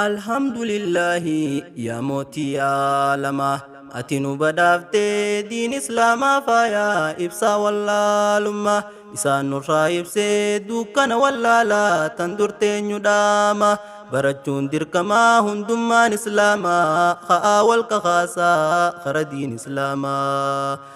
Alhamdulillahi yaa mootii aalamaa ati nu badhaaftee diin islaamaa faayaa ibsaa wallaalummaa isaan nurraa ibsee dukkana wallaalaa tan dur teenyu dhaama barachuun dirqamaa hundummaan islaamaa ka'aa wal kakaasaa kara diin islaamaa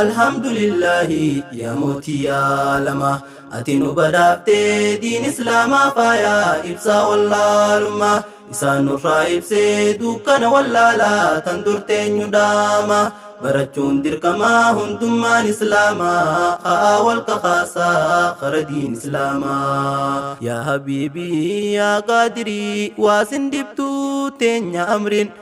Alhamdulillahi yaa mootii aalamaa Ati nu badhaaftee diin islaamaa faayaa Ibsaa wallaalummaa isaan nurraa ibsee Dukkana wallaalaa tan dur teenyu dhaama Barachuun dirqamaa hundummaan islaamaa Ka'aa wal kakaasaa kara diin islaamaa Yaa habiibii yaa qaadirii waasin dibtuu teenya amrin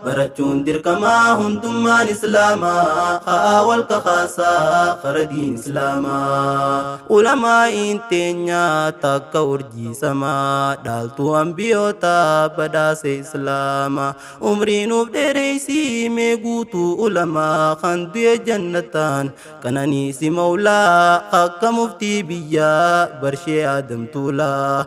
Barachuun dirqama hundummaan islaama Ka'aa wal kakaasaa kara diin islaama Ulamaa'iin teenya takka urjii sama Dhaaltuu anbiyoota badhaase islaama Umrii nuuf dheereysii mee guutuu ulama Kan du'e jannataan qananiisi mawlaa Akka muftii biyyaa barshee aadamtuulaa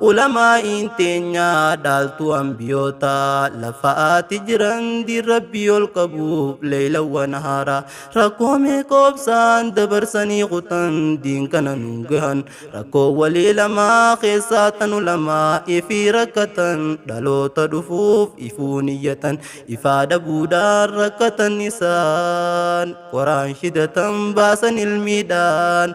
Ulamaa'iin teenya dhaaltuu anbiyoota lafa'aati jiran diin rabbii ol qabuuf leeylawwa nahaara rakkoo meeqoobsaan dabarsanii kutan diin kana nuun gahan rakkoo walii lamaa keessaa tan ulamaa ifii rakkatan dhaloota dhufuuf ifuu niyyatan ifaa dhabuudhaan rakkatan isaan qoraan shidatan baasan ilmiidhaan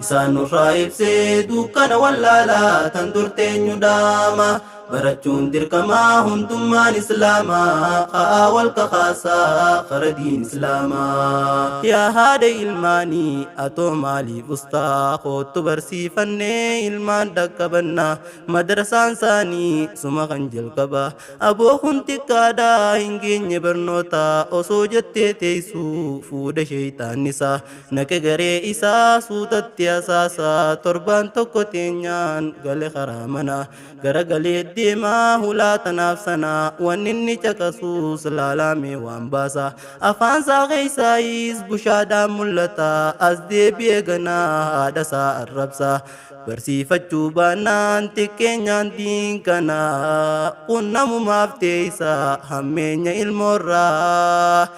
Isaan nurraa ibsee dukkana wallaalaa tan dur teenyu dhaama. Barachuun dirqamaa hundummaan islaamaa ka'aa wal kakaasaa kara diin islaamaa. Yaa haadha ilmaanii atoo maaliif ustaa koottu barsiifannee ilmaan dhaqqabannaa madrasaan saanii suma kan jalqaba aboo kun xiqqaadhaa hin geenye barnoota osoo jettee teessuu fuudha sheeyxaannisaa. Naqe garee isaa suutatti asaasa torbaan tokko teenyaan gale karaa manaa gara galee deemaa hulaa tanaaf sanaa wanni inni caqasuus laalaamee waan baasa afaan isaa keessaayis bushaadhaan mul'ata as deebi'ee ganaa haadha isaa arrabsa barsiifachuu baannaan xiqqeenyaan diin kanaa qunnamumaaf teeysa hammeenya ilmoorraa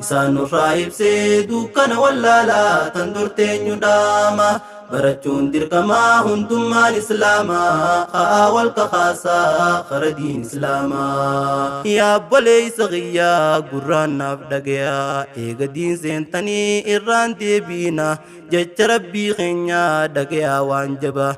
Isaan nurraa ibsee dukkana wallaalaa tan dur teenyu dhaama barachuun dirqamaa hundummaan islaamaa ha'aa wal kakaasaa kara diin islaamaa yaa obboleeysa kiyyaa gurraan naaf dhagayaa eega diin seentanii irraan deebiina jecha rabbii keenyaa dhagayaa waan jabaa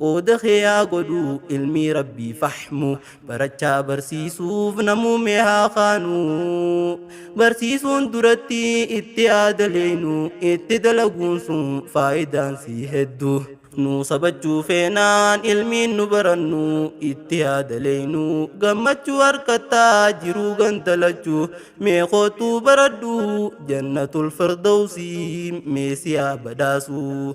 Qooda kee haa godhu ilmii rabbii fahmu barachaa barsiisuuf namuumee haa kaanu barsiisuun duratti itti haa daleeynu itti dalaguun sun faayidaan sii heddu nu sabachuu feenaan ilmiin nu barannu itti haa daleeynu gammachuu harkattaa jiruu gandalachuu mee kootuu baradhu jannatul firdawsii mee si haa badhaasuu